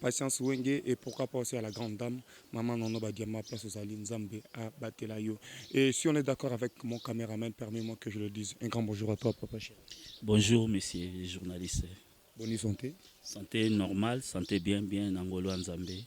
Patience Wenge et pourquoi pas aussi à la grande dame Maman Nono Badiama place Ozali Nzambe a batela yo et si on est d'accord avec mon cameraman permets-moi que je le dise un grand bonjour à toi papa chéri Bonjour monsieur le journaliste. Bonne santé. Santé normale, santé bien bien na ngolu ya Nzambe.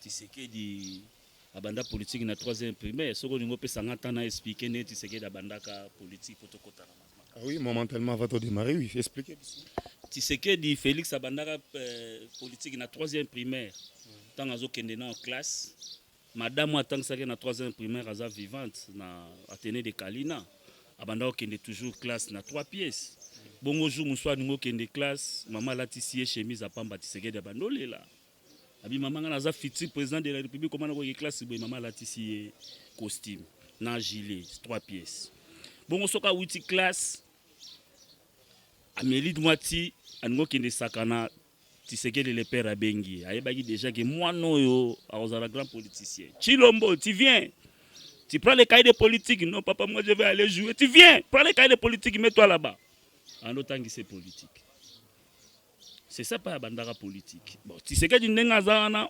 Tshisekedi abanda politique na 3e primaire soki olingi opesa nga temps na expliquer ndenge Tshisekedi abandaka politique po tokota na makambo. Ah oui, momentalement avant de démarrer, oui, expliquer biso. Tshisekedi Felix abandaka euh, politique na 3e primaire ntango azokende na classe madame atangisaki na 3e primaire aza vivante na atene de kalina abanda kokende toujours classe na 3 pièces bongo jour mosusu alingi okende classe mama alatisi ye chemise apamba tisekedi abanda olela Abi mama nga naza futur président de la République comment na ko classe boye mama alatisi ye costume na gilet trois pièces. Bongo soka wuti classe ameli mwa ti alingi okende sakana tisekeli le père abengi ye ayebaki déjà ke mwana oyo akozala grand politicien chilombo tu viens tu prends le cahier de politique non papa moi je vais aller jouer tu viens prends le cahier de politique mets toi là-bas ando otangise politique C'est ça pas bandaka politique. Bon, Tshisekedi ndenge aza wana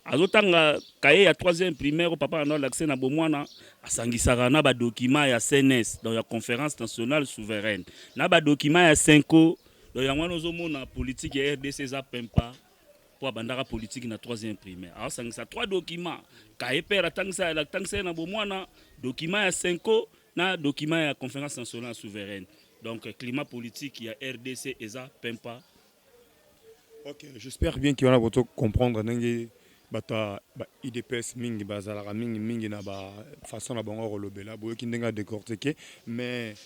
azotanga kaye ya 3e primaire oyo papa nano alakise na bomwana asangisaka na badokima ya cns donc ya conférence nationale souveraine na badokima ya senco donc yango wana ozomona politike ya rdc eza pempa mpo abandaka politike na 3e primaire aosangisa 3 dokima kaye pere atangisa ye na bomwana dokima ya senco Na document ya Conference nationale souveraine, donc climat politique ya RDC eza pempa. Ok, j'espère bien qu'il y en a pour comprendre ndenge bato ya ba udps mingi bazalaka mingi mingi na bafaçon na bango ya kolobela boyoki ndenge ya décortike mais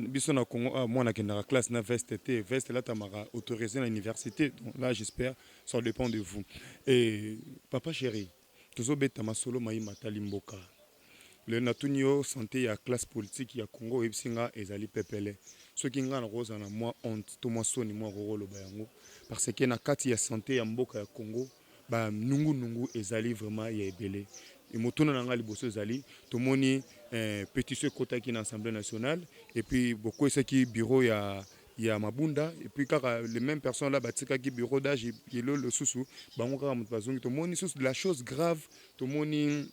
biso na congo awa ah, mwana akendaka classe na veste te veste elatamaka autorisé na université donc là j'espère ça dépend de vous et papa chéri Tozo beta masolo maye matali mboka. Lelo natuni yo sante ya classe politique ya Congo oyebisi nga ezali pepele. Soki nga nakoki kozala na mua honte to mua soni moko okoki koloba yango parce que na kati ya sante ya mboka ya Congo ba nungu nungu ezali vraiment ya ebele. Motuna na nga liboso ezali tomoni petition ekotaki na assemblee nationale et puis bokweyisaki bureau ya ya mabunda et puis kaka les mêmes personnes là batikaki bureau d'âge yelo losusu bango kaka moto bazongi tomoni susu de la chose grave tomoni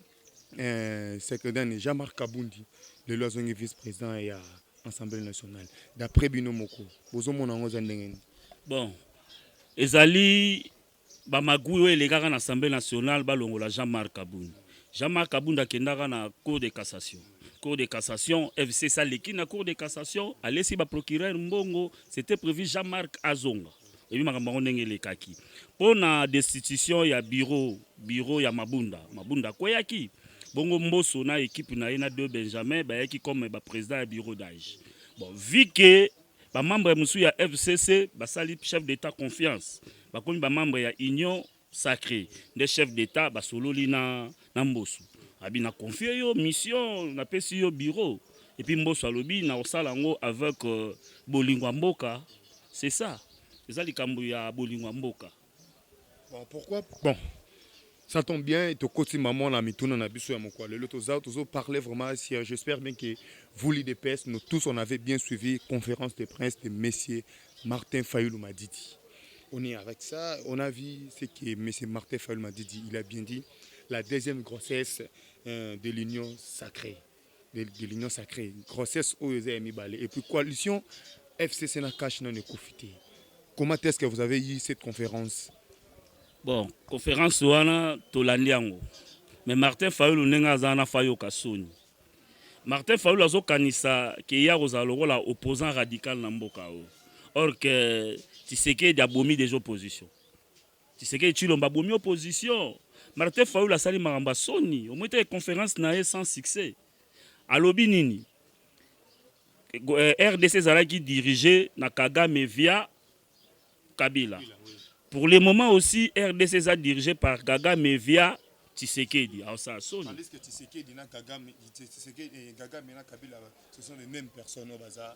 eh, secrétaire Jean-Marc Kabundi lelo azongi vice président ya Assemblée nationale d'après bino moko bozomona yango eza ndenge nini bon ezali Ba magouilles oyo elekaka na Assemblee nationale balongola Jean Marc Kabund. Jean Marc Kabund akendaka na Cour de cassation. Cour de cassation, FCC aleki na Cour de cassation, alesi ba procureurs mbongo, c'etait prevu Jean Marc azonga. Oyebi makambo yango ndenge elekaki. Mpo na destitution ya bureau, bureau ya Mabunda, Mabunda akweyaki. Bongo Mboso na equipe na ye na De Benjamin bayaki comme ba presidents ya bureau d'age. Bon, vu que Ba membres mosusu ya fcc basali chef d'Etat confiance, bakomi ba membres ya Union sacree, nde chef d'Etat basololi na na Mboso, abi na confier yo mission, napesi yo bureau, et puis Mboso alobi nakosala yango avec bolingo ya mboka, c'est ça, eza likambo ya bolingo ya mboka. Bon, pourquoi bon ça tombe bien tokoti maman na mituna na biso ya mokwa lelo toza tozo parler vraiment sérieux j'espère bien que vous l'idps nous tous on avait bien suivi conférence de presse de monsieur Martin Fayulu Madidi on est avec ça on a vu ce que monsieur Martin Fayulu Madidi il a bien dit la deuxième grossesse euh, de l'union sacrée de, de l'union sacrée grossesse oyo eza ya mibale et puis coalition FCC na cash nanu ekufi te comment est-ce que vous avez eu cette conférence bon conférence wana tolandi yango mais Martin Fayulu ndenge aza wana fayoka soni Martin Fayulu azokanisa ke ye akozala lokola opposant radical na mboka oyo or que Tshisekedi abomi des oppositions Tshisekedi Tshilombo abomi opposition. Martin Fayulu asali makambo ya soni. Omoni te conference na ye sans succès. Alobi nini? Eh, RDC ezalaki dirige na Kagame via Kabila. Pour le moment aussi, RDC eza dirige par Kagame via Tshisekedi. Alors ça sonne. Tandis que Tshisekedi na Kagame, Tshisekedi, eh, Kagame na Kabila, ce sont les mêmes personnes au bazar.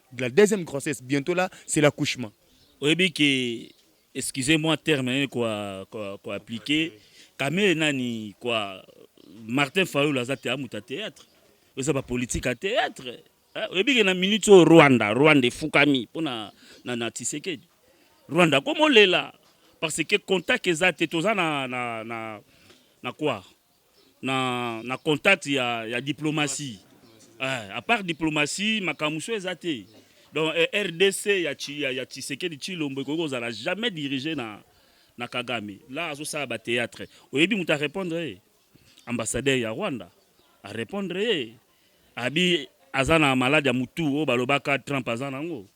de la deuxième grossesse bientot là c'est l'accouchement oyebi ke excusez moi terme nini ko ko appliquer kamere nani kwa martin fayulu aza te amutu ya théâtre eza ba politique ya théâtre eh, oyebi ke na minute oyo rwanda rwanda efukami mpo na, na, na tisekedi rwanda akomolela parce que contact eza te toza na, na, na, na kwa na, na contact ya, ya diplomatie eh, apart diplomatie makambo so eza te donc eh, rdc ya, ya, ya tshisekedi tshilombo ekoki kozala jamais dirige na, na kagame la azosala bateatre oyebi moto arépondre ye ambassadeur ya rwanda arépondre ye abi aza na malade ya motu oyo balobaka trump aza nango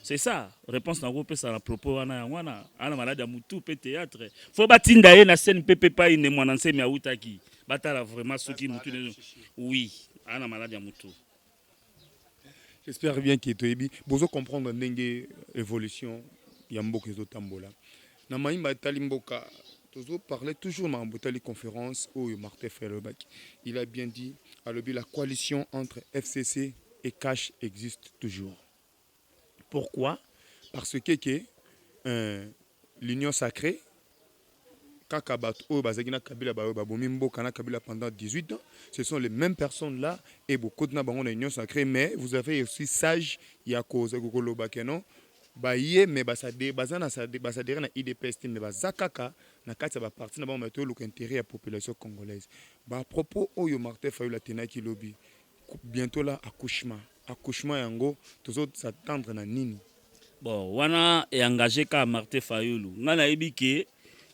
C'est ça, réponse na kopesa na propos wana yango wana ana malade ya mutu pe théâtre. Faut batinda ye na scène pepe pai ne mwana nsemi autaki. Batala vraiment soki mutu ne oui, ana malade ya mutu. J'espère bien que toyebi bozo comprendre ndenge évolution ya mboka ezo tambola. Na mayimba etali mboka tozo parler toujours makambo etali conference oyo Martin Fayulu alobaki. Il a bien dit alobi la coalition entre FCC et CACH existe toujours. Pourquoi? Parce que que euh, l'union sacree kaka bato oyo bazalaki na kabila baoyo babomi mboka na kabila pendant 18 ans ce sont les mêmes personnes là et bokoti na bango na union sacrée mais vous avez aussi sage ya koloba que non Baye mais ba s'adherer baza na ba s'adherer na udps te mais baza kaka na kati ya ba partis na bango mais tozo luka interet ya population congolaise. Ba propos oyo Martin Fayulu atenaki lobi bientot là accouchement accouchement yango tozo s'attendre na nini? Bon wana e engager kaka Martin Fayulu. Ngai nayebi que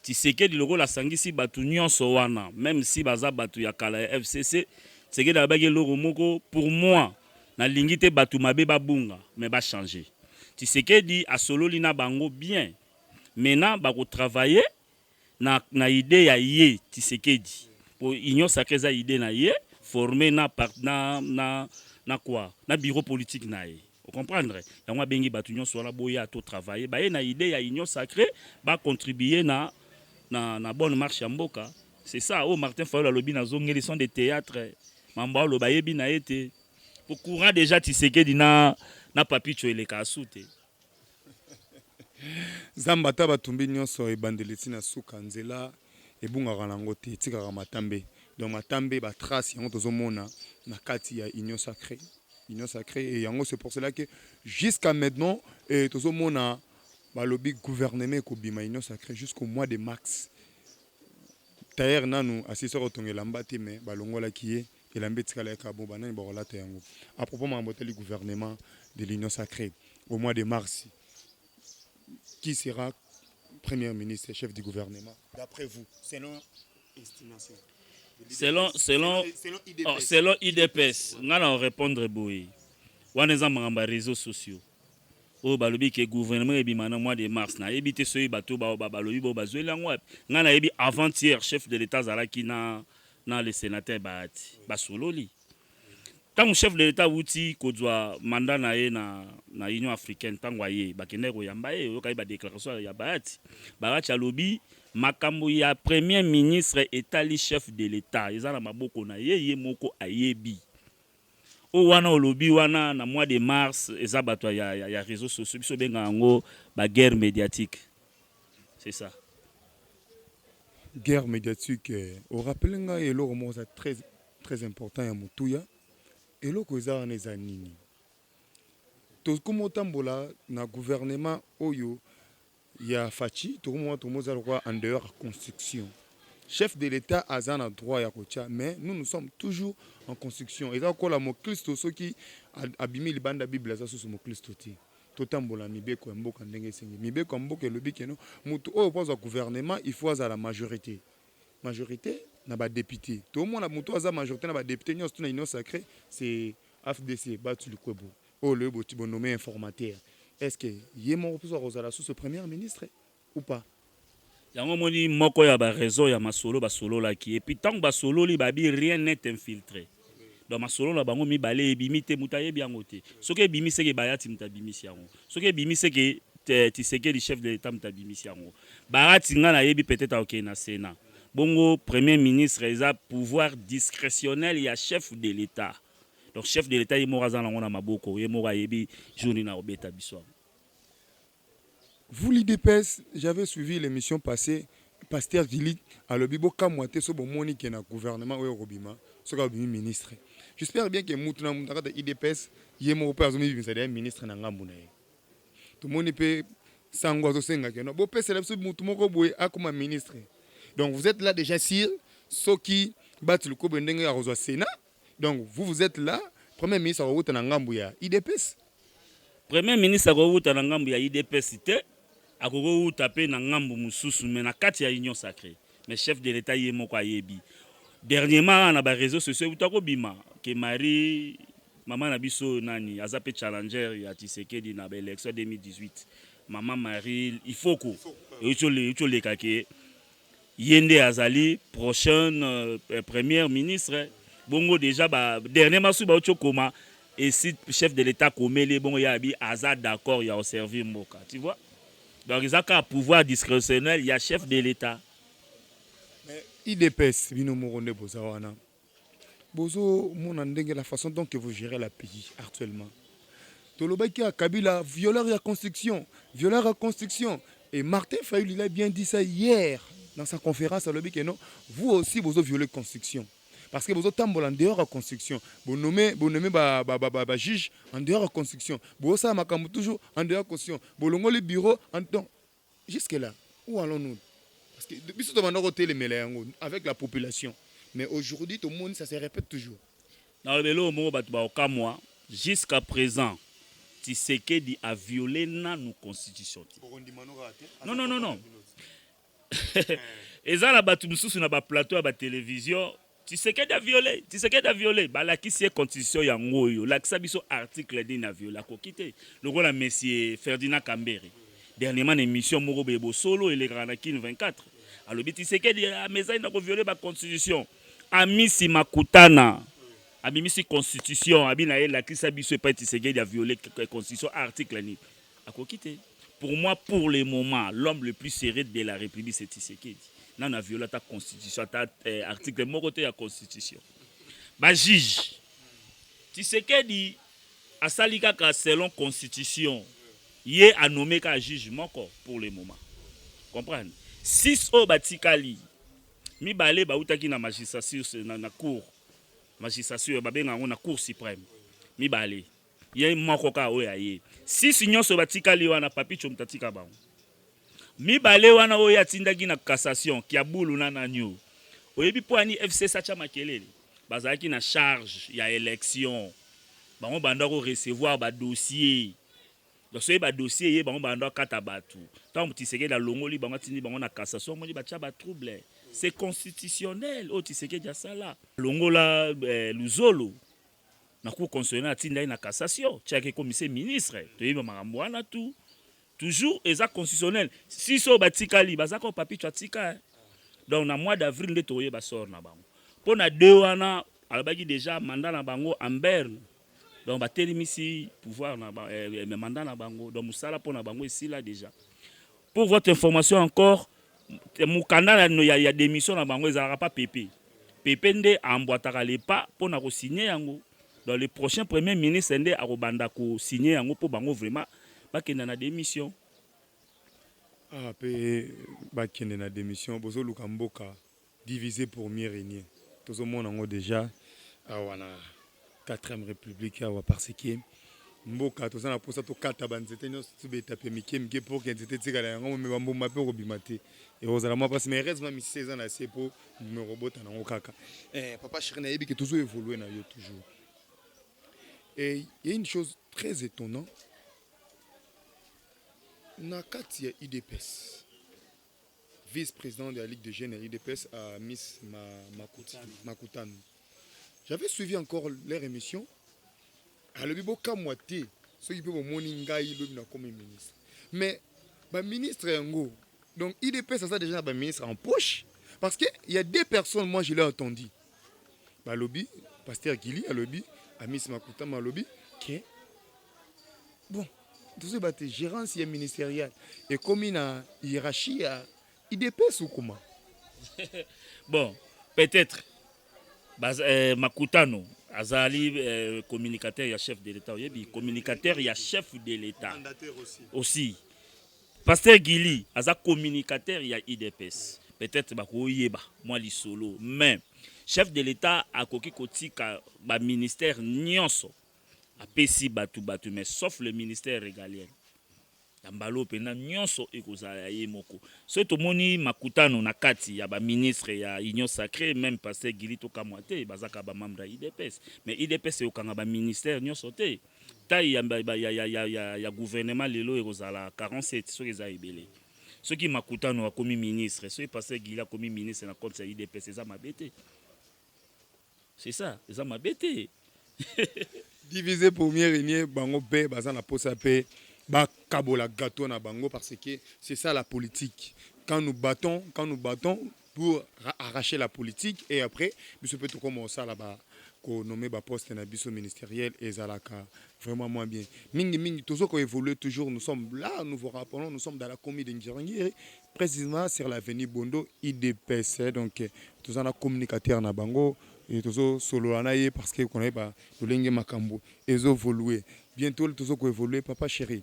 Tshisekedi lokola asangisi batu nionso wana meme si baza batu ya kala ya FCC, Tshisekedi alobaki eloko moko pour moi Na lingi te batu mabe ba bunga mais ba changer. Tshisekedi a sololi na bango bien. Maintenant ba ko travailler na na idee ya ye Tshisekedi. Po union sacree eza idee na ye former na na na na quoi? Na bureau politique na ye. O comprendre? Yango a bengi batu nionso wana bo ya to travailler. Ba ye na idee ya union sacree ba contribuer na na na bonne marche ya mboka. C'est ça, oh Martin Fayol alobi na zongeli son de théâtre. Mambo aloba yebi na ete. Au courant déjà Tshisekedi na na Papicho eleka asute. Zamba ata batumbi nyonso ebandeli ti na suka nzela ebungaka nango te etikaka matambe. Donc matambe ba trace yango tozomona na kati ya union sacrée. Union sacrée et yango c'est pour cela que jusqu'à maintenant eh, tozomona balobi gouvernement ekobima union sacrée jusqu'au mois de mars Tailleur nanu asilisa kotonga elamba te mais balongolaki ye elamba etikala kaka bon banani bakolata yango? A propos makambo etali gouvernement de l'union sacree au mois de mars qui sera premier ministre chef du gouvernement d'après vous selon estimation selon selon selon idps nga na répondre boye wana eza makambo ya réseaux sociaux oyo balobi ke gouvernement ebima na mois de mars na yebi te soki bato ba balobi bo bazueli yango wapi ngai na yebi avant hier chef de l'etat azalaki na na le senateur bahati basololi ntango chef de l'etat awuti kozwa mandat na ye na, na union africaine ntango aye bakendaki koyamba ye oyokaki badéclaration ya bahati bahati alobi makambo ya premier ministre etali chef de l'etat eza na maboko na ye ye moko ayebi Oyo wana olobi wana na mois de mars eza batu ya ya reseaux sociaux biso benga yango ba guerre mediatique c'est ça. Guerre mediatique o rappeler nga eloko moko eza très très important ya motuya eloko eza wana eza nini? Tokomi otambola na gouvernement oyo ya Fatshi tokomona tokomi oza lokola en dehors ya construction chef de l'etat aza na droit ya kotia mais nous nous sommes toujours en construction eza kola moklisto soki abimi libanda bible aza susu moklisto te totambola mibeko ya mboka ndenge esengi mibeko ya mboka elobi keno moto oyo mpo azwa gouvernement il faut azala majorité majorité na badepute toomona moto aza majorité na badepute nyonso tuna union sacré c'est afdc batu likwebo Oyo le boti bo nomme informateur est ce que ye moko mpe ako zala susu première ministre ou pas? Yango omoni moko ya ba raison ya masolo ba sololaki et puis tango ba sololi ba bi rien n'est infiltre donc masolo na bango mibale ebimi te mutu ayebi yango te soki ebimi seke Bahati mutu abimisi yango soki ebimi seke Tshisekedi chef de l'etat mutu abimisi yango Bahati nga na yebi peut-etre ako kende na senat bongo premier ministre eza pouvoir discretionnel ya chef de l'etat. donc chef de l'etat ye moko aza nango na maboko ye moko ayebi jour nini akobeta biso yango Vous l'IDPS, j'avais suivi l'émission passée, Pasteur Gilly alobi bokamwa te so bomoni ke na gouvernement oyo kobima soki abimi ministre. J'espère bien que mutu na mutu na kati ya IDPS ye moko pe azomibimisa deja ministre na ngambu na ye. Tomoni pe sango azosenga ke no bopesela biso mutu moko boye akoma ministre. Donc vous êtes là déjà sur soki Bati Lukobe ndenge akozwa Senat Donc vous vous etes là premier ministre akowuta na ngambu ya idps premier ministre akowuta na ngambu ya idps te akokowuta pe na ngambu mususu mais na kati ya union sacree mais chef de l'etat ye moko ayebi dernièrement na ba réseaux sociaux ewuta kobima ke marie mama na biso nani aza pe challenger ya tshisekedi na ba élection 2018 mama marie ifoko euti oleka ke Ye nde azali prochaine euh, première ministre bongo deja ba dernier masu bauti okoma esi chef de l'etat akomeli ye bongo ye abi aza d'accord ya oservir mboka tu vois donc eza kaka pouvoir discrétionnel ya chef de l'etat idps bino moko nde boza wana Bozo mona ndenge la façon donc que vous gérez la pays actuellement. Tolobaki ya Kabila violeur ya construction, violeur ya construction et Martin Fayulu il a bien dit ça hier dans sa conférence alobi que non, vous aussi bozo violer construction. parce que bozotambola en dehors ya construction bonome bonome bajuge en dehors ya construction bosala makambo toujours en dehors ya construction bolongoli bureau donc Jusque là où allons-nous? Parce que biso tobanda kotelemela yango avec la population mais aujourd'hui tomoni ça se répète toujours. Na eloko moko bato bakokamwa jusqu'à présent Tshisekedi a violer nanu constitution te. Non non non non. Eza na bato mosusu na ba plateaux ya ba televisions Tshisekedi a viole, Tshisekedi a viole. Balakisi ye constitution yango oyo. Lakisa biso article nini a viole. Akoki te. Lokola monsieur Ferdinand Kambere. Dernièrement na emission moko boye bosolo elekaka na Kin 24. Alobi Tshisekedi amesani na ko viole ba constitution. Amisi Makutana. Abimisi constitution. Abi na ye lakisa biso epai Tshisekedi a viole constitution article nini. Akoki te. Pour moi pour le moment l'homme le plus serré de la République c'est Tshisekedi. Nana viola ta constitution ta eh, article moko te ya constitution. Ba juge Tshisekedi asali kaka selon constitution ye anome kaka juge moko pour le moment. Comprendre? Six oyo batikali mibale bautaki na magistrature na, na cour magistrature babenga yango na cour suprême mibale Ye moko kaka oyo aye. Six nionso batikali wana Papy Comte atika bango. Mibale wana oyo ye atindaki na cassation, Kiabulu na nani oyo. Oyebi mpo ya nini FCC atia makelele? Bazalaki na charge ya election. Bango banda ko recevoir ba dossiers. Donc soki ba dossiers eye bango banda kata batu. Tango Tshisekedi alongoli bango atindi bango na cassation omoni batia ba troubles. C'est constitutionnel oyo Tshisekedi asala. Longola eh, Luzolo. na cour constitutionnelle atinda ye na cassation ti ake komisa ye ministre toyebi makambo wana tout toujours eza constitutionnel si so batikali baza ko papicho atika eh. donc na mois d'avril nde tokoyeba sort na bango mpo na de wana alobaki déjà mandat na bango en berne donc batelemisi pouvoir na ba, eh, eh mandat na bango donc mosala mpo na bango esila déjà pour votre information encore mukanda ya, ya demission na bango ezalaka pa pepe pepe nde ambwataka le pas mpo na kosigne yango donc le prochain premier ministre nde akobanda kosigne yango mpo bango vraiment bakenda na demission ah, mpe bakende na demission bozoluka mboka Diviser pour mieux regner tozo mona yango dejà awa na quatrième republique awa par ce que mboka toza na posa tokata ba nzete nyonso tibeta pe mike mike pour que nzete etikala yango me bambuma pe okobima te ekozala mwa mpasi mais heureusement misisa eza na se mpo mbuma ekobota nango kaka eh, papa chéri nayebi ke tozo évolue na yo toujours et il y a une chose très étonnant na kati ya udps vice-président de la Ligue des jeunes à l'UDPS, à Miss Makutan. J'avais suivi encore leur émission. alobi bokamwa te soki mpe bomoni ngai lobi nakomi ministre mais baministre yango donc idps aza déjà na baministre en poche parce que il y a deux personnes moi je l'ai entendu balobi pasteur gili alobi amis makutama alobi ke bon tozoyeba te gérance ya ministériel ekomi na hiérarchie ya idps ou comment bon peut-être Baz, eh, makutano azali eh, communicateur ya chef de l'état oyebi communicateur ya chef de l'état aussi, aussi. Pasteur Guilly aza communicateur ya IDPS. Peut-être bakoyeba mwa lisolo mais chef de l'etat akoki kotika ba ministères nyonso apesi batu batu mais sauf le ministère régalien ya mbalo mpenza nyonso ekozala ya ye moko so tomoni makutano na kati ya baministre ya union sacré meme pasteur gili tokamwa te bazaka bamambre ya idps mais idps eyokanga baministère nyonso te Taille ya, ya, ya, ya, ya, ya, ya gouvernement lelo ekozala 47 soki eza ebele. Soki Makutano akomi ministre, soki Pasteur Guilly akomi ministre na compte ya UDPS eza mabe te. C'est ça, eza mabe te. Diviser pour mieux régner, bango pe baza na posa pe ba kabola gâteau na bango parce que c'est ça la politique. Quand nous battons, quand nous battons, pour arracher la politique et après biso pe tokoma osala ba ko nommer ba poste na biso ministeriel ezalaka vraiment moins bien mingi mingi tozo ko évoluer toujours nous sommes là nous vous rappelons nous sommes dans la commune de Ngirangiri précisément sur l'avenue Bondo IDPS donc toza na communicateur na bango et tozo solola na ye parce que qu'on est ba lolenge makambo ezo évoluer bientôt tozo ko évoluer papa chéri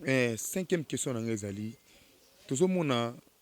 eh cinquième question na ngai ezali tozo mona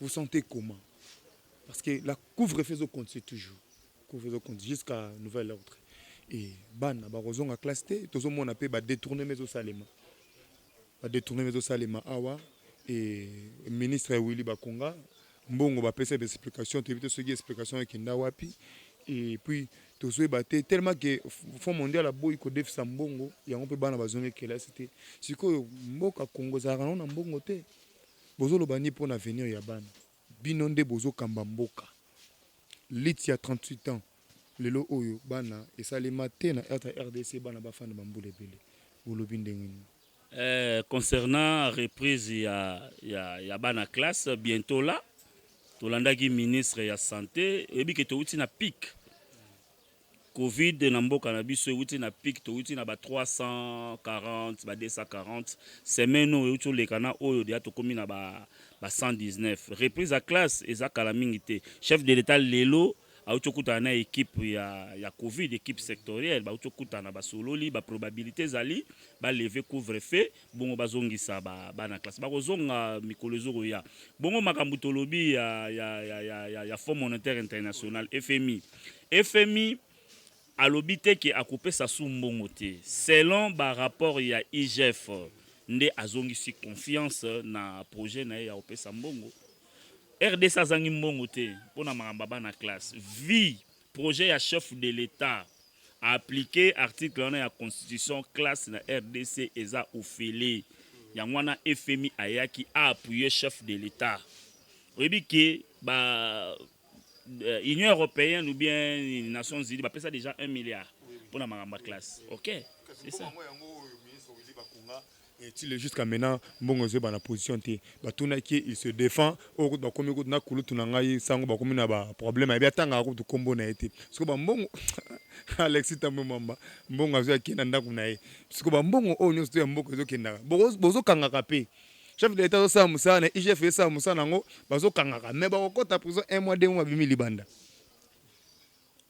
Vous sentez comment? Parce que la couvre-feu ezo continuer toujours. Couvre-feu ezo continuer jusqu'à nouvel ordre. Et bana bakozonga classe te, tozomona mpe ba détournement ezosalema. Ba détournement ezosalema awa et ministre ya Willy Bakonga mbongo bapesa ba explication toyebi te soki explication ekenda wapi et puis tozoyeba te tellement ke fond mondial aboyi kodefisa mbongo yango mpe bana bazongi kelasi te sikoyo mboka kongo ezalaka nango na mbongo te Bozo loba nini pona avenir ya bana bino nde bozo kamba mboka lutte ya 38 ans lelo oyo bana esalema te na rdc bana ba fanda ba mbula ebele bolobi ndenge nini. Eh concernant reprise ya ya ya bana classe bientot là tolandaki ministre ya sante oyebi ke towuti na pic. Covid na mboka na biso ewuti na pic towuti na ba 340 ba 240 semaine oyo ewuti oleka na oyo deja tokomi na ba 119 reprise ya classe eza kala mingi te chef de l'etat lelo awuti okutana na equipe ya, ya covid equipe sectorielle bawuti okutana basololi ba probabilité ezali ba leve couvre feu bongo bazongisa ba bana classe bakozonga mikolo ezokoya bongo makambo tolobi ya, ya, ya, ya, ya, ya fonds monétaire international fmi fmi alobi te ke akopesa su mbongo te selon barapport ya igf nde azongisi confiance na projet na ye ya kopesa mbongo rdc azangi mbongo te mpo na makambo ya bana classe vi projet ya chef de l'etat applique article wana ya constitution classe na rdc eza ofele yango wana fmi ayaki aappuye chef de l'etat oyebi ke ba euh, union européenne ou bien nations unies bapesa déjà 1 milliard mpona makambo ya classe ok c'est ça Et ti le jusqu'à menant mbongo ezo yebana position te ba tunaki ye il se defend oyo kutu ba komi kutu na kulutu na ngai sango ba komi naba problème ayebi atangaka kutu kombo naye te sikoyo ba mbongo Alexis tambwe mwamba mbongo azwi ake na ndaku naye sikoyo ba mbongo oyo nionso to ya mboka ezo kendaka boko bozo kangaka pe chef de l'etat azo sala musala naye IGF ezo sala musala nango bazo kangaka mais bako kota prison un mois deux mois ba bimi libanda.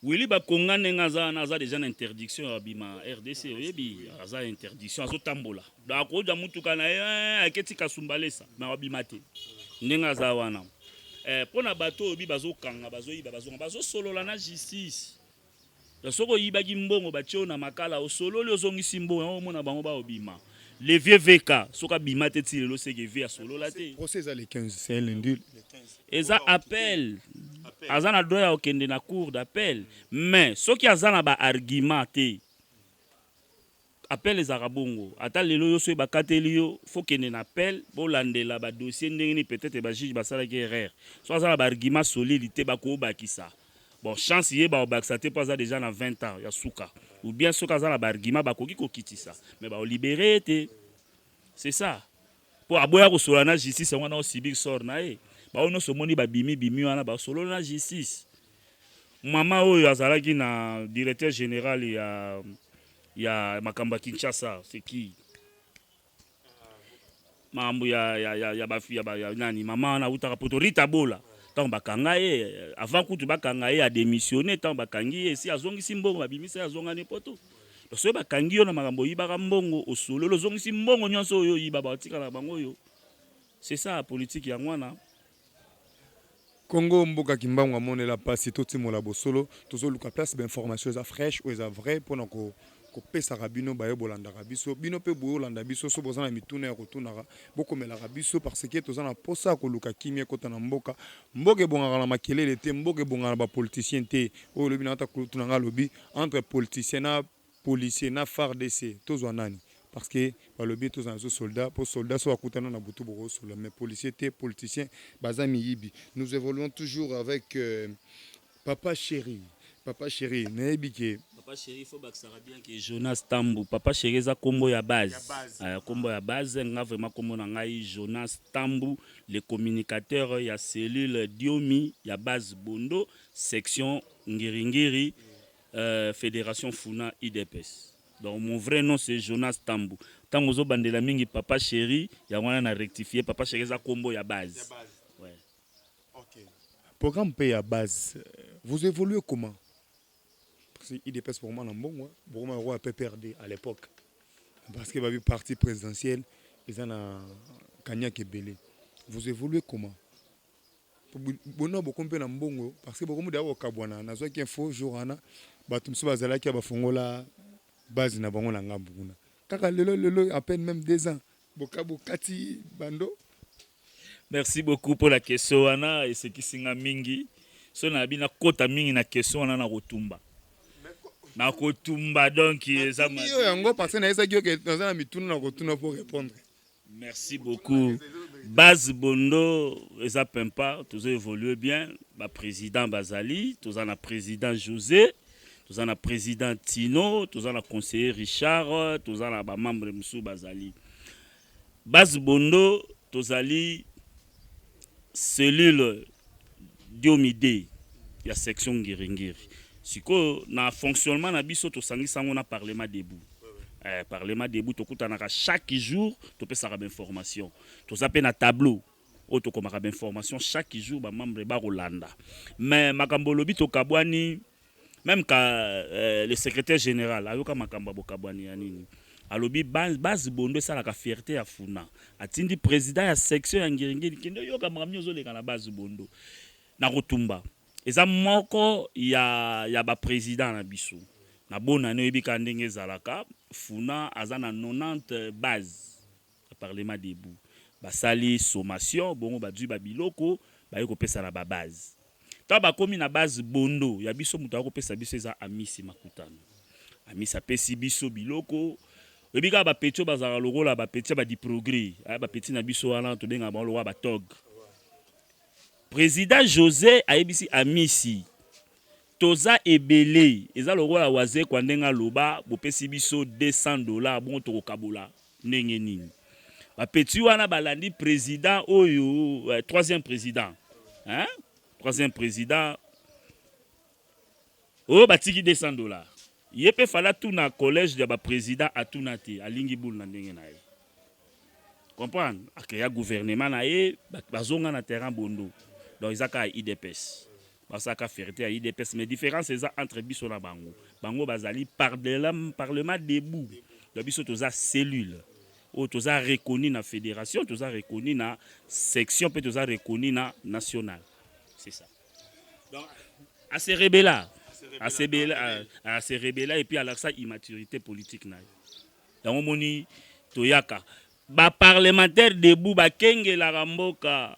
Willy bakonga ndenge aza wana aza deja na interdiction ya bima rdc oyebi aza interdiction azotambola donc akozwa motuka na ye eh, aketi kasumbalesa me abima te ndenge aza wana eh, mpo na bato oyo bi bazokanga bazoyiba bazonga bazosolola na justice soki oyibaki mbongo batie oyo na makala osololi ozongisi mbongo yango omona bango baobima le vieux vk soki abima te ti lelo seke vie asolola te procès eza le 15 c'est un lundi eza appel aza na droit ya kokende na cour d'appel mais soki aza na ba argument te appel ezalaka bongo ata lelo yo soki bakateli yo fo kende na appel bolandela badossier ndenge nini peut-être bajuge basalaki erreur so aza na baargument solide te bakobakisa bon chance ye bakobakisa te mpo aza deja na 20 ans ya suka ou bien soki aza na baargument bakoki kokitisa mais baolibere ye te c'est ça Po aboya kosolola na justice yango wana o subir sort na ye. Ba oyo nionso omoni ba bimi bimi wana ba sololi na justice. Mama oyo azalaki na directeur general ya ya makambo ya Kinshasa c'est qui? Makambo ya ya ya ya ba ya ba ya nani mama wana awutaka poto Rita Bola. Tango bakanga ye avant kutu bakanga ye a demissionner tango bakangi ye esi azongisi mbongo babimisa ye azonga ne poto. Donc soki bakangi yo na makambo oyibaka mbongo osololi ozongisi mbongo nyonso oyo oyiba batikala bango oyo c'est ça la politique yango wana Congo mboka kimbangu amonela pasi totimola bosolo tozoluka place ba information eza fraîche oyo eza vrai mpona ko kopesaka bino baye bolandaka biso bino mpe boye olanda biso so boza na mituna ya kotunaka bokomelaka biso parce que toza na mposa ya koluka kimia ekota na mboka mboka ebongaka na makelele te mboka ebongaka na bapoliticien te oyo olobi na ata kulutu na ngai alobi Entre politicien na policier na fardc tozwa nani? Parce que balobi tozala na biso soldat po soldat soki akutana na butu boko solola mais policier te politicien baza miyibi. Nous evoluons toujours avec papa cheri papa cheri nayebi ke Papa Cheri il faut bakisaka bien que Jonas Tambu Papa Cheri eza kombo ya base euh, kombo ya base nga vraiment kombo na ngai Jonas Tambu le communicateur ya cellule Diomi ya base Bondo section Ngiri-Ngiri, euh, Federation Funa IDPS. Donc mon vrai nom c'est Jonas Tambu. Tango zo bandela mingi papa chéri, ya wana na rectifier papa chéri za kombo ya base. Ya base. Ouais. OK. Programme pe ya base. Vous évoluez comment? Parce que IDPS pour moi na mbongo, bokoma roi PPRD à l'époque. Parce que babi parti présidentiel, ils en a Kanyakebele. Vous évoluez comment? Bono bokomi mpe na mbongo parce que bokomi deya kokabwana. Nazwaki info jour wana bato mosusu bazalaki ya bafongola base na bango na ngambo kuna kaka lelo lelo à peine même deux ans boka bokati bando. Merci beaucoup mpo na question wana esekisi nga mingi so nayabi nakota mingi na question wana na kotumba na kotumba donc eza yo yango parce que nayesaki yo ke naza na mituna na kotuna mpo répondre Merci beaucoup. Base Bondo eza pempa, tozo évoluer bien, ba président bazali, toza na président José, toza na président Tino, toza na conseiller Richard, toza na ba membres mususu bazali. Base Bondo tozali cellule Diomide ya section Ngiri-Ngiri. Sikoyo na fonctionnement na biso tosangisi yango na Parlement debout. Eh, Parlement debout tokutanaka chaque jour topesaka ba information. Toza pe na tableau oyo tokomaka ba information chaque jour ba membre bakolanda. Mais makambo olobi tokabwani meme ka euh, le secrétaire général ayoka makambo ya bokabwani ya nini alobi base bondo esalaka fierte ya funa atindi président ya section ya ngiringiri kende oyoka makambo nini ozoleka na base bondo na kotumba eza moko ya, ya baprésident na biso na bonane oyebi kaka ndenge ezalaka funa aza na 90 base Na parlement debout basali sommation bongo bazui ba biloko baye kopesa na ba base. Tango bakomi na base Bondo ya biso moto akopesa biso eza Amisi Makutano. Amisi apesi biso biloko. Oyebi kaka ba petits oyo bazalaka lokola ba petits ya ba diprogre eh ba petits na biso wana tobengaka bango lokola ba tog. President Jose ayebisi Amisi toza ebele eza lokola Wazekwa ndenge aloba bopesi biso 200 dollars bongo tokokabola Ndenge nini ba petits wana balandi president oyo euh, troisième president hein? troisième president oyo oh, batiki 200 dollars ye mpe fala tuna collège ya bapresident atuna te alingi bulu na ndenge na ye comprendre akeya gouvernement na ye bazonga na terrain bondo donc eza kaka idps Basalaka ferite ya udps mais difference eza entre biso na bango bango bazali parlement debout donc biso toza cellule oyo toza reconnu na federation toza reconnu na section mpe toza reconnu na national c'est ça donc à se rebeller à se rebeller à se rebeller et puis alakisa immaturité politique na ye yango moni toyaka ba parlementaire debout bakengelaka mboka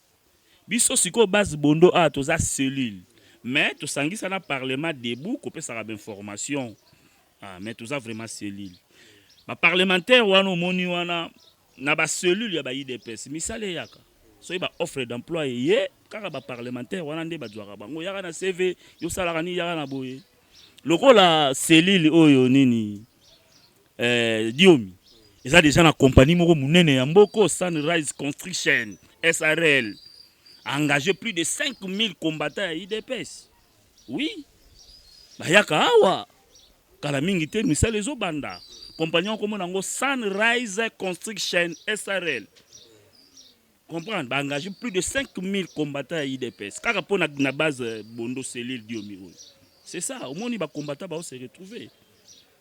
Biso sikoyo base bondo awa toza cellule mais tosangisa na parlement debout kopesaka ba information ah, mais toza vraiment cellule ba parlementaire wana omoni wana na ba cellule ya ba idps misala eyaka soki ba offre d'emploi eye kaka ba parlementaire wana nde bazwaka bango yaka na cv yosalaka nini yaka na boye lokola cellule oyo nini Eh, Diomi, eza deja na compagnie moko munene ya mboko Sunrise Construction SRL engage plus de 5000 combattants ya IDPS. Oui, bayaka awa kala mingi te, misala ezobanda. Compagnie okomona yango Sunrise Construction SRL comprendre ba engage plus de 5000 combattants ya IDPS kaka mpo na base Bondo cellule Diomi oyo. C'est ça, omoni ba combattants bao se retrouver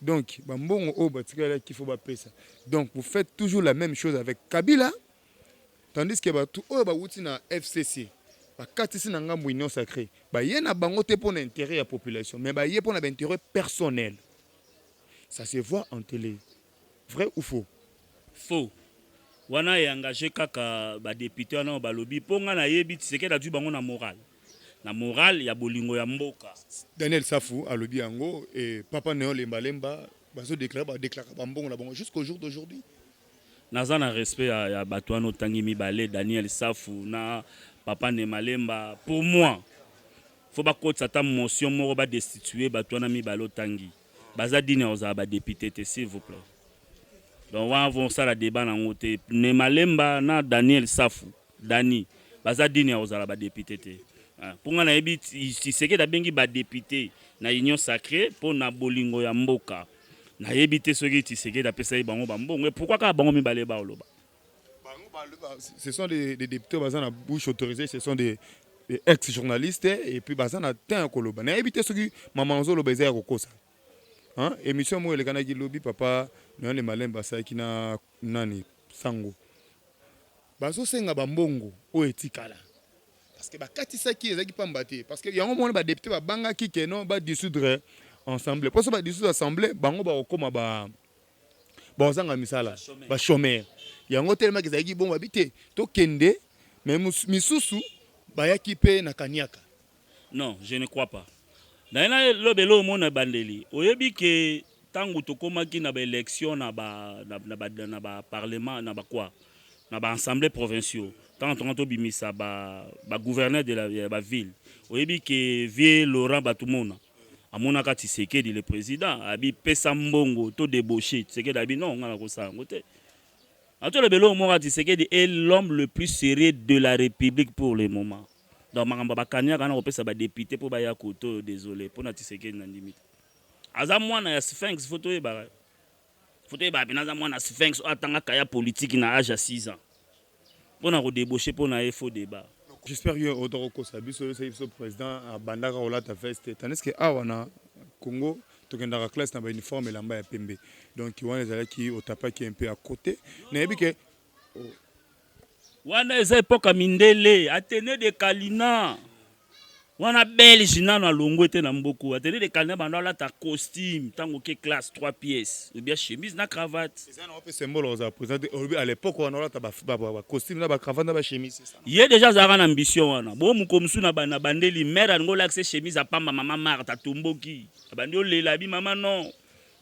Donc ba mbongo oyo batikali ya kifo bapesa donc vous faites toujours la même chose avec Kabila tandis que batu oyo bawuti na FCC bakatisi na ngambo union sacree baye na bango te mpo na interet ya population mais baye mpo na ba interet personnel ça se voit en tele vrai ou faux Faux. Wana e engager kaka ba deputes wana oyo balobi mpo ngai nayebi Tshisekedi azwi bango na morale, na morale ya bolingo ya mboka. Daniel Safu alobi yango et Papa Neon Lemba Lemba bazo declarer ba declaraka ba mbongo na bango jusqu'au jour d'aujourd'hui. Naza na respect ya, ya bato wana otangi mibale, Daniel Safu na Papa Nema Lemba. Pour moi, faut bakotisa ata motion moko ba destituer bato wana mibale otangi. Baza digne ya kozala ba depute te s'il vous plait. Donc wana vo sala debat na ngo te. Ne Malemba na Daniel Safu, Dani, baza digne ya kozala ba depute te. Ah, po nga nayebi Tshisekedi abengi ba depute na Union Sacree po na bolingo ya mboka. Nayebi te soki Tshisekedi apesaki bango ba mbongo. Et pourquoi kaka bango mibale baoloba? ce sont des, des députés baza na bouche autorisée ce sont des, des ex journalistes et puis baza na temps ya koloba nayebi te soki mama ozoloba eza ya kokosa hein? émission moko elekanaki lobi papa noyale malembe asalaki na nani sango bazosenga bambongo oyo etikala parce que bakatisaki ezalaki pamba te parce que yango mona badepute babangaki keno badissoudre ensemble mposo badissoudre assemble bango bakokoma ba, ba bakozanga misala ba chomeurs yango telemaki ezalaki bongo abi te tokende me misusu bayaki mpe na kaniaka non je ne crois pas naye nalobela oyo mona ebandeli oyebi ke ntango tokomaki na baélection na baparlement na bakwa na baassemblée provinciaux ntango tonga tobimisa bagouverneur de la baville oyebi ke vie laurent bato mona amonaka Tshisekedi le president abi pesa mbongo to debauche Tshisekedi abi non nga nakosala yango te atoloba eloko moko Tshisekedi est l'homme le plus sérieux de la république pour le moment donc makambo bakaniaka na kopesa badepute mpo baya koto oyo desole mpo na Tshisekedi na ndimi te aza mwana ya sphinx fo toyebaka Foto ye babi naza mwana Sphinx oyo atanga kaya politique na age ya 6 ans. Pona ko debaucher pona ye faux debat. J'espère que yo ota ko kosa biso yo seki biso president abandaka kolata veste tandis que awa na Congo tokendaka classe na ba uniforme elamba ya pembe donc wana ezalaki otapaki un peu à cote nayebi que Wana eza epoka mindele atene de kalina wana belge nano alongwe te na mboku atene de kalina banda alata costume tango ke classe 3 pièces ou bien chemise na cravate eza na ope symbole oza présenter olobi à l'époque wana alata ba ba ba costume na ba cravate na ba chemise ye deja azalaka na ambition wana bo muko musu na bana bandeli mère alingo lakse chemise apamba mama Martha tomboki abandi olela bi mama non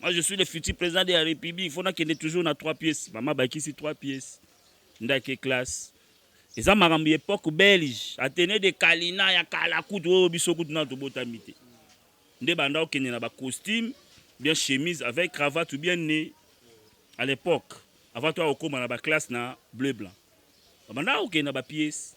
Moi je suis le futur président de la République, faut nakende toujours na 3 pièces. Mama bakisi 3 pièces. Ndake classe. Eza makambo ya époque belge, Athénée de Kalina ya kala kutu oyo biso kutu na tobotami te. Nde banda okende na ba costume, bien chemise avec cravate ou bien nez à l'époque. Avant toi okoma na ba classe na bleu blanc. Banda okende na ba pièces.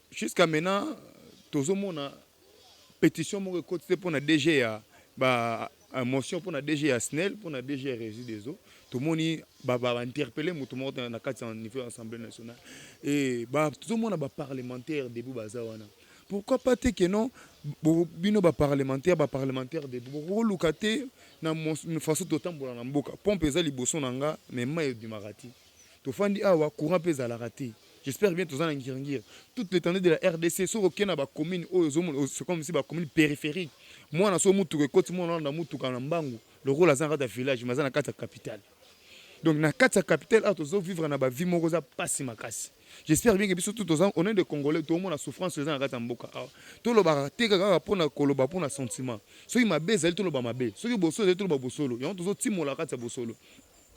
Jusqu'à maintenant tozo mona petition moko ekoti te pona DG ya ba euh, motion pona DG ya SNEL pona DG ya Régie des eaux tomoni ba ba interpeller moto moko te na kati ya niveau ya Assemblée nationale et ba tozo mona ba parlementaires debout baza wana pourquoi pas te que non bo- bino ba parlementaires ba parlementaires debout bokoluka te na mos- na façon totambola na mboka pompe eza liboso na nga mais mai ebimaka te tofandi awa courant mpe ezalaka te J'espère bien toza na ngiri ngiri. Toute l'étendue de la RDC soki oke na ba communes oyo ozomona oh, c'est comme si ba communes périphériques. Mwana so mutuka ekoti mwana wana na mutuka na mbangu lokola aza na kati ya village mais aza na kati ya capitale. Donc na kati ya capitale awa tozo vivre na ba vie moko za pasi makasi. J'espère bien que biso tout toza on est des Congolais tout mona souffrance eza na kati ya mboka awa. To loba te kaka pona koloba pona sentiment. Soki mabe ezali to loba mabe. Soki bosolo ezali to loba bosolo. Yango tozo timola kati ya bosolo.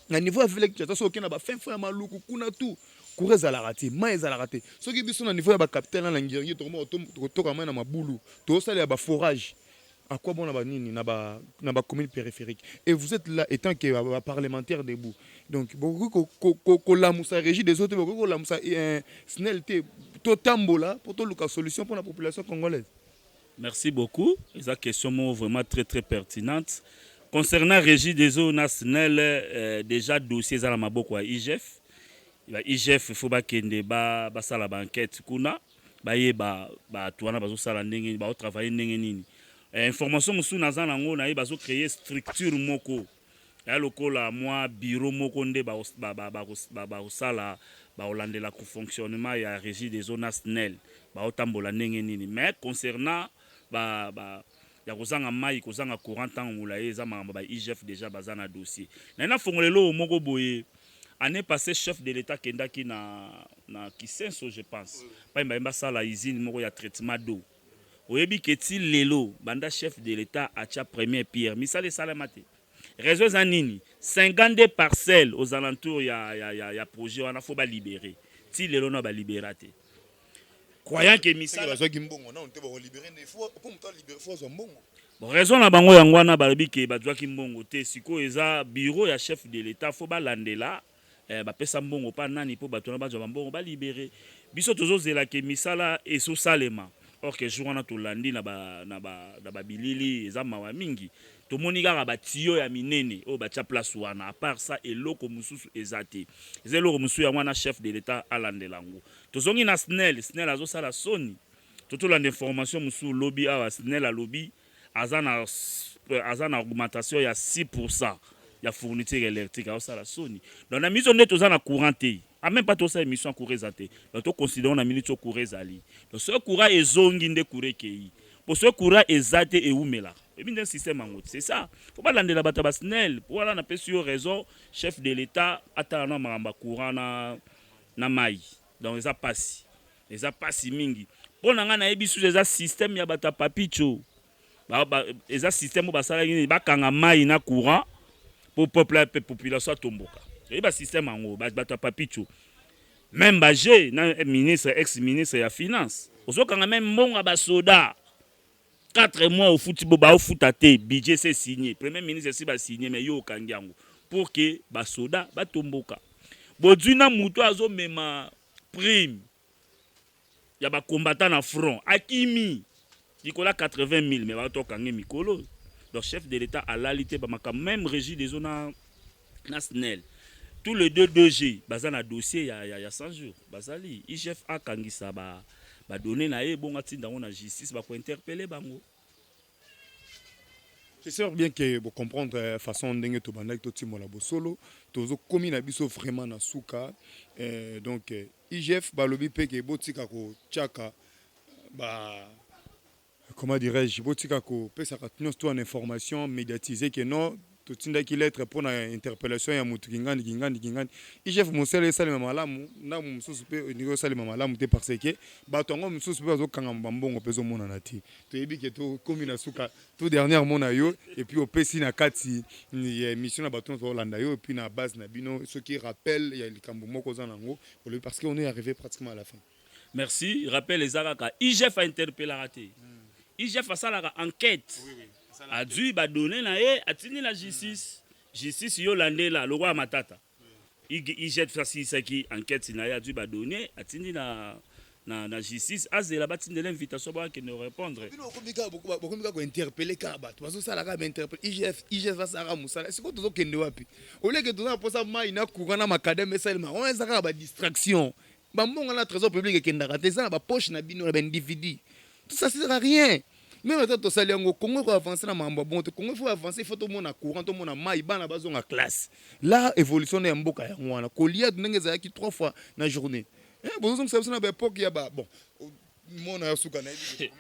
na niveau ya ville Kinshasa soki okenda ba fin fond ya maluku kuna tout courant ezalaka te mai ezalaka te soki biso na niveau ya bacapital na nangirngi tokomaka tokotoka mai na mabulu tozosalela baforage akwa bona banini na bacommune ba périphérique et vous êtes là étant que baparlementaire debout donc bokoki kolamusa ko, ko, ko régie des autres bokoki kolamusa eh, snel te totambola mpo toluka solution mpo na population congolaise Merci beaucoup eza question moko vraiment très très pertinente concernant régie des eaux na SNEL euh, déjà dossier eza na maboko ya IGF ba IGF faut bakende ba basala ba enquête kuna bayeba bato wana bazosala ndenge baotravaille ndenge nini eh, information mosusu naza nango naye bazocreye structure moko Eya lokola mwa bureau moko nde bakosala bakolandela fonctionnement ya regie des eaux na snel baotambola ndenge nini mais concernant ba ya kozanga mayi kozanga courant ntango molayi eza makambo ba igf dejà baza na dossier naye nafongola eloko moko boye annee passee chef de l'etat akendaki na na kisenso je pense pai baye basala usine moko ya traitement d'eau Oyebi que ti lelo banda chef de l'etat atia première pierre misala esalema te? Raison eza nini? 52 parcelles aux alentours ya, ya, ya, ya projet wana faut ba liberer. Ti lelo na ba libera te. Croyant que misala bazwaki mbongo nanu te bako libere nde faut po moto a libere faut azwa mbongo. Bon, raison na bango yango wana balobi ke bazwaki mbongo te. Sikoyo eza bureau ya chef de l'etat faut balandela Eh, bapesa mbongo pa nani po bato wana bazwa bambongo ba libere biso tozozela ke misala esosalema or ke jour wana tolandi na babilili ba, ba eza mawa mingi tomoni kaka batiyo ya minene oyo batya place wana apart sa eloko mosusu eza te eza eloko mosusu yango wana chef de l'etat alandela yango tozongi na snel snel azosala soni totolanda information mosusu lobi awa snel alobi aza na euh, aza na augmentation ya 6 pourcent ya fourniture électrique aosala soni donc na miso nde toza na courant te a même pas tosala émission ya courant eza te donc toconsidérons na minute oyo courant ezali donc soki courant ezongi nde courant ekei mpo soki courant eza te ewumelaka ebi nde système yango c'est ça mpo balandela bato ya basnel mpo wana napesi yo raison chef de l'état atala na makambo ya courant na, na mai donc eza pasi eza pasi mingi mpo na ngai nayebi susu eza système ya bato ya papicho ba, ba, eza système oyo basalaki nini bakanga mai na courant mpo peuple mpe population atomboka eyebi basystème yango bato ya papicho meme baje na ministre ex ministre ya finance ozokanga meme mbongo ya basoda 4 mois ofuti bo bao futa te budget c'est signé premier ministre si ba signé mais yo okangi yango pour que ba soda ba tomboka bozui na mutu azo mema prime ya ba combattant na front akimi likola 80000 mais ba to kangi mikolo donc chef de l'état alali te ba makambo même régie des zones na snel tous les deux 2G baza na dossier ya, ya, ya 100 jours bazali IGF akangisa ba ba données na ye bonga tinda ngo na justice ba ko interpeller bango C'est sûr bien que vous comprendre euh, façon ndenge to bandaki to timola bosolo tozo komi na biso vraiment na suka euh, donc euh, IGF balobi pe ke botika ko chaka ba comment dirais je botika ko pesaka tnos to en information mediatise que non totindaki lettre mpo na interpellation ya mutu kingandi kingandi kingandi igf mosala esalema malamu ndambo mosusu mpe olingi osalema malamu te parce que bato yango mosusu mpe bazokangama bambongo mpe ezomonana te toyebi ke tokomi na suka to dernière mona yo epuis opesi na kati ya émission na bato nyonso baolanda yo epuis na base na bino soki rappel ya likambo moko oza na yango olobi parce que on est arrivé pratiquement à la fin Merci. Rappel eza kaka IGF a interpellaka te. IGF asalaka enquête. Oui, oui. Azui ba données na ye, atindi na justice. Mm. Justice yo landela lokola matata. IGF asilisaki enquête na ye, azui ba données, atindi na na, na justice azela batindela invitation bakende korepondre bokomi kaka kointerpele kaka bato bazosala kaka bainterpele igf igf basalaka mosala sikoyo tozokende wapi oleke toza na mposa mai na courant na makadame esalema wana eza kaka badistraction Ba mbongo na trésor public ekendaka te, eza na ba poche na bino na ba individu. Tout ça sert à rien. Meme ata tosali yango Congo eko avancer na makambo ya bongo te. Congo il faut avancer, il faut tomona courant, tomona mayi, bana bazonga classe. Là evolution nde ya mboka yango wana. Kolia ndenge ezalaki trois fois na journee. Eh bozozongisa biso na ba epoque ya ba bon mona ya suka na yebi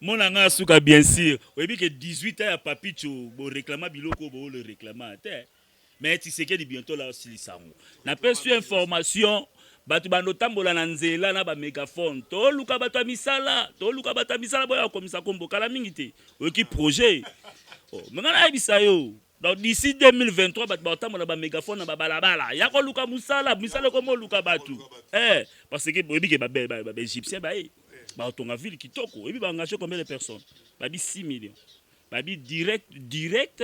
mona nga suka bien sûr oyebi que 18 ans ya papicho bo réclama biloko bo le réclama te Mais Tshisekedi bientôt là osilisa yango. Na pesi yo information bato bando tambola na nzela na ba megaphone toluka bato ya misala toluka bato ya misala boya kokomisa kombo kala mingi te oyoki projet oh, me ngai nayebisa yo donc d'ici 2023 bato bakotambola ba megaphone na babalabala ya koluka mosala misala ekomi oluka bato eh, parce que boyebi ke baégyptien baye bakotonga ville kitoko oyebi baengage combien de personnes babi 6 millions babi direct direct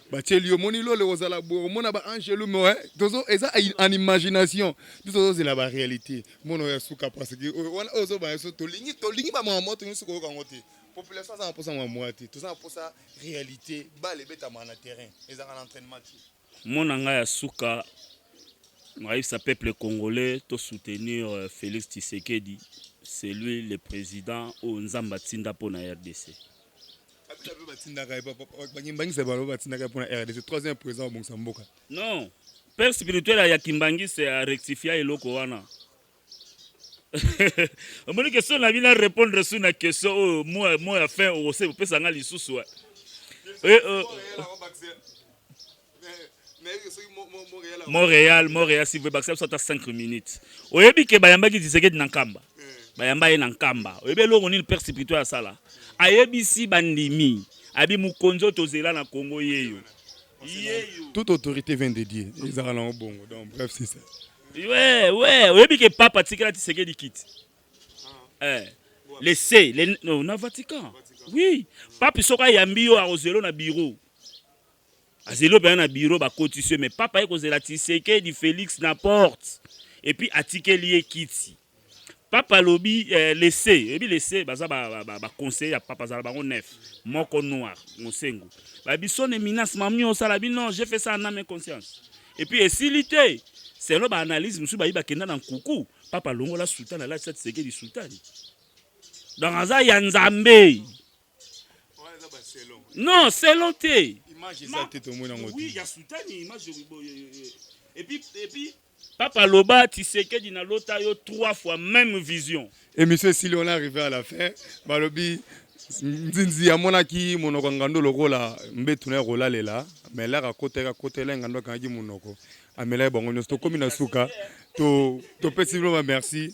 batieli yo moni lole kozala boye komona ba angelu moe tozo eza en imagination biso tozozela ba réalité mona oyo ya suka parce que oyo wana oyo ozobana biso tolingi tolingi ba mwa moto nyonso koyoka yango te population aza na mposa mwa mwa te toza na mposa réalité bale ebetama na terrain ezalaka na entraînement te mona ngai ya suka ayebisa peuple congolais to soutenir euh, Félix Tshisekedi c'est lui le président oyo Nzambe atinda mpo na RDC Kabila pe batindaka ye bakimbangisa balo batindaka ye mpo na rdc troisième président abongisa mboka non père spirituel ya kimbangisa ya rectifia eloko wana omoni question na bino arépondre su na question oyo oh, mo ya fin okose opesa nga lisusu eh, euh, Montréal, Montréal, si vous bakisa biso ata 5 minutes. Oyebi ke bayambaki Tshisekedi na Nkamba. Bayamba ye na Nkamba. Oyebi eloko nini Père Sipito asala? Ayebisi bandimi. Abi mokonzi oyo tozela na Congo yeyo. Yeyo. Toute autorité vient de Dieu. Ezaka na bongo. Donc bref, c'est ça. Ouais, ouais, oyebi ke papa tikela Tshisekedi kiti. Eh. Laissez les non, na Vatican. Oui. Pape soka yambi yo akozelo na bureau. azeli opena na bureau bakotisi yo mais papa ye kozela tisekedi felix na porte epuis atikeli ye kiti papa alobi eh, lese oyebi lese baza baconseiller ba, ba, ba ya papa azala bango nef moko noir mosengu babisone minas mamni osala bi non je fais ça en ame conscience epuis esili te selo baanalyse mosusu bayi bakenda na nkuku papa longola sultani alatisa tisekedi sultani donc aza ya nzambe non selon te papa loba tisekedi na lota yo trois fois même vision emission esili on arrivé à la fin balobi nzinzi amonaki monoko ya ngando lokola mbetu na ya kolalela me elaka akotaki akotela ngando akangaki monoko amelaki bango nyonso tokómi na suka topesi bino bamerci